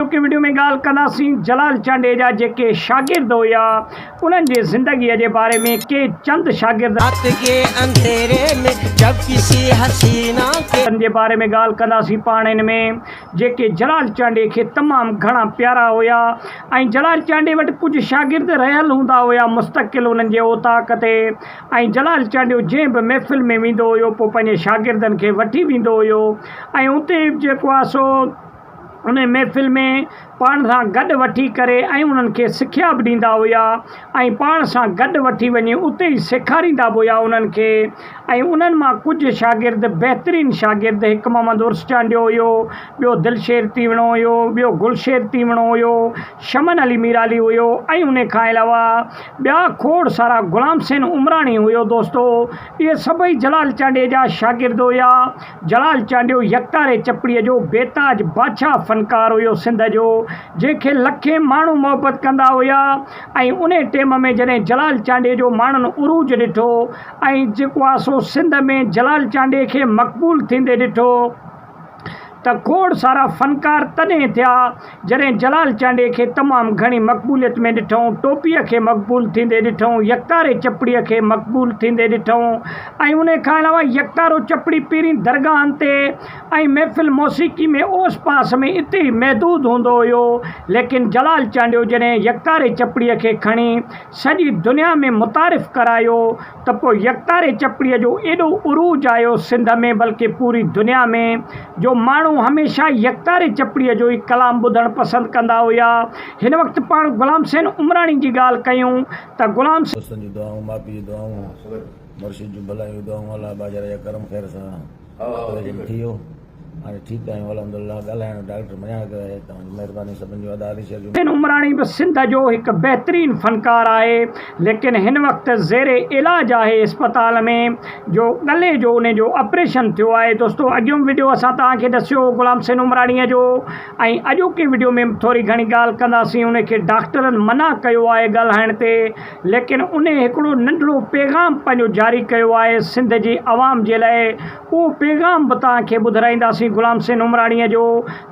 اڄوڪي وڊيو ۾ ڳالهه ڪنداسين جلال چانڊيي جا جيڪي شاگرد هيا انهن جي زندگي جي باري ۾ ڪي چند شاگرد ان جي باري ۾ ڳالهه ڪنداسين پاڻ ان ۾ جيڪي جلال چانڊيي کي تمام گهڻا پيارا هيا ۽ جلال چانڊيي وٽ ڪجهه شاگرد رهيل هوندا هيا مستقل انهن جي اوطاق تي ۽ جلال چانڊيو جنهن به محفل ۾ ويندو هيو پوء پنهنجي شاگردن کي وٺي ويندو هيو ۽ اتي جيڪو آهي سو ان محفل ۾ پاڻ سان گڏ وٺي ڪري ۽ انهن کي سکيا به ڏيندا هيا ۽ پاڻ سان گڏ وٺي وڃي اتي ئي سيکاريندا به هيا انهن کي ۽ انهن مان ڪجهه شاگرد بهترين شاگرد هڪ محمد عرس چانڊيو هيو ٻيو دلشير تيوڻو هيو ٻيو گلشير تيوڻو هيو شمن علي ميرالي هيو ۽ انهي کان علاوه ٻيا کوڙ سارا غلام حسين عمراڻي هيو دوستو اهي سڀئي جلال چانڊيي جا شاگرد هيا جلال چانڊيو يڪتاري چپڙي جو بيتاج بادشاهه فنڪار هيو سنڌ جو جنهن کي لکين ماڻهو محبت ڪندا هيا ۽ انهي ٽيم ۾ جڏهن جلال چانڊيي جو ماڻهن عروج ڏٺو ۽ جيڪو آ سو سنڌ ۾ جلال چانڊيي کي مقبول ٿيندي ڏٺو ته کوڙ سارا فنڪار تڏهن ٿيا جڏهن جلال چانڊيي کي تمام گهڻي مقبوليت ۾ ڏٺئون، ٽوپيء کي مقبول ٿيندي ڏٺئون، يڪتاري چپڙيء کي مقبول ٿيندي ڏٺئون ۽ انهي کان علاوه يڪتارو چپڙي پيرين درگاهن تي ۽ محفل موسيقي ۾ اوس پاس ۾ اتي ئي محدود هوندو هيو ليڪن جلال چانڊيو جڏهن يڪتاري چپڙيء کي کڻي سڄي دنيا ۾ متعارف ڪرايو ته پوء يڪتاري چپڙيء جو ايڏو عروج آيو سنڌ ۾ بلڪه پوري دنيا ۾ جو ماڻهو هميشه يڪتاري چپڙيء جو ئي ڪلام ٻڌڻ پسند ڪندا هيا. هن وقت پاڻ غلام حسين عمراڻي جي ڳالهه ڪيون ته غلام. دوستن جون دعائون، ماء پيء جون دعائون، مرشد جون ڀلايون دعائون، الله ٻاجهاري جا ڪرم خير سان. بن عمراڻي به سنڌ جو هڪ بهترين فنڪار آهي ليڪن هن وقت زير علاج آهي اسپتال ۾ جو ڳلي جو ان جو آپريشن ٿيو آهي دوستو اڳيون وڊيو اسان توهان کي ڏسيو هو غلام حسين عمراڻي جو ۽ اڄوڪي وڊيو ۾ به ٿوري گهڻي ڳالهه ڪنداسين ان کي ڊاڪٽرن منع ڪيو آهي ڳالهائڻ تي ليڪن انهي هڪڙو ننڍڙو پيغام پنهنجو جاري ڪيو آهي سنڌ جي عوام جي لاء اهو پيغام به توهان کي ٻڌرائينداسين غلام حسين عمراڻي جو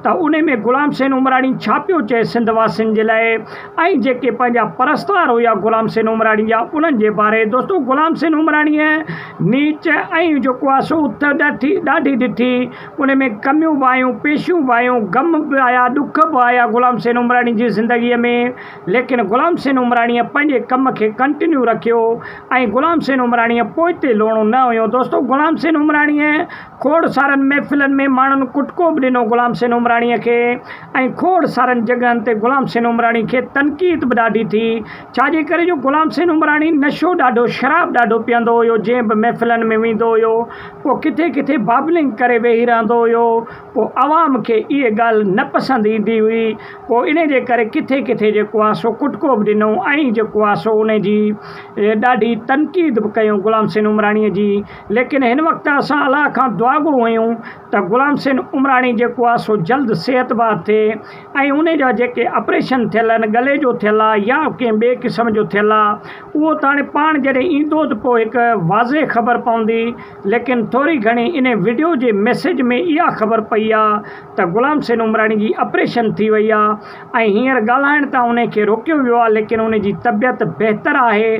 ته انهي ۾ غلام حسين عمراڻي ڇا پيو چئي سنڌ واسين جي لاء ۽ جيڪي پنهنجا پرستار هيا غلام حسين عمراڻي جا انهن جي باري دوستو غلام حسين عمراڻي نيچ ۽ جيڪو آهي سو اٿ ڏاٺي ڏاڍي ڏٺي انهي ۾ ڪميون به آيون پيشيون به آيون غم به آيا ڏک به آيا غلام حسين عمراڻي جي زندگي ۾ ليڪن غلام حسين عمراڻيء پنهنجي ڪم کي ڪنٽينيو رکيو ۽ غلام حسين عمراڻيء پوئتي لوڻو نه هنيو. دوستو غلام حسين عمراڻيء کوڙ سارن محفلن ۾ ماڻهن ڪٽڪو به ڏنو غلام حسين عمراڻيء کي ۽ کوڙ سارن جڳهن تي غلام حسين عمراڻي کي تنقيد به ڏاڍي ٿي ڇا جي ڪري جو غلام حسين عمراڻي نشو ڏاڍو شراب ڏاڍو پيئندو هيو جنهن به محفلن ۾ ويندو هيو پوء ڪٿي ڪٿي بابلنگ ڪري ويهي رهندو هيو. پوء عوام کي اهي ڳالهه نه پسند ايندي هئي، پوء انهي جي ڪري ڪٿي ڪٿي جيڪو آ سو ڪٽڪو به ڏنو ۽ جيڪو آ سو انهي جي ڏاڍي تنقيد به ڪيون غلام حسين عمراڻي جي ليڪن هن وقت اسان الله کان دعاگو هيون ته غلام حسين عمراڻي جيڪو آ سو جلد صحت بحد ٿئي ۽ انهي جا جيڪي آپريشن ٿيل آهن ڳلي جو ٿيل آ يا ڪنهن ٻئي قسم جو ٿيل آ اهو ته هاڻي پاڻ جڏهن ايندو ته پوء هڪ واضح خبر پوندي. ليڪن ٿوري گهڻي انهي وڊيو جي ميسيج ۾ اها خبر پئي آ ته غلام حسين عمراڻي جي آپريشن ٿي وئي آ ۽ هينئر ڳالهائڻ تان انهي کي روڪيو ويو آ ليڪن انهي جي طبيعت بهتر آهي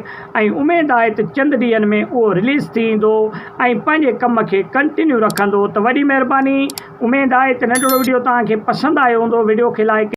۽ اميد آهي ته چند ڏينهن ۾ اهو رليز ٿي ايندو ۽ پنهنجي ڪم کي ڪنٽينيو رکندو ته وڏي مهرباني اميد آهي ته ننڍڙو وڊيو توهان کي پسند آيو هوندو وڊيو کي لائڪ